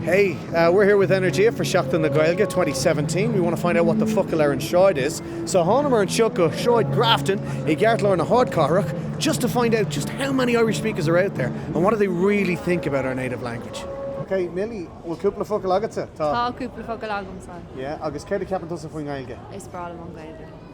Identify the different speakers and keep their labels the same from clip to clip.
Speaker 1: Hey, we're here with Energia for Seachtain na Gaeilge 2017. We want to find out what the focal ar an sráid is. So thángamar anseo go Sráid Grafton i gceartlár na hardchathrach just to find out just how many Irish speakers are out there and what do they really think about our native language. Ok, Milly, bhfuil cúpla focal agatsa? Tá. Tá cúpla focal agamsa. Yeah, agus céard a ceapann tusa faoin nGaeilge? Is breá liom an Ghaeilge.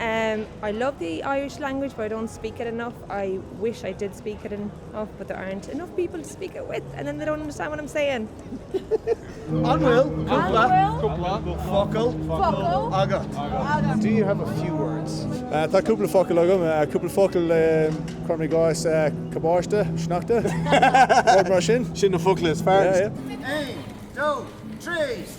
Speaker 1: I love the Irish language but I don't speak it enough, I wish I did speak it enough but there aren't enough people to speak it with and then they don't understand what I'm saying! An bhfuil cúpla focal agat? Do you have a few words? Tá cúpla focal agam, cúpla focal cuir i gcás cabáiste, sneachta, rud mar sin. Sin na focla is fearr. Aon, dó, trí!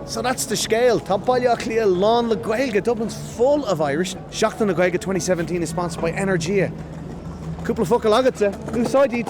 Speaker 1: So that's the scéal. Tá Baile Átha Cliath lán le Gaeilge, Dublin's full of Irish, Seachtain na Gaeilge 2017 is sponsored by Energia. Cúpla focal agatsa, úsáid iad!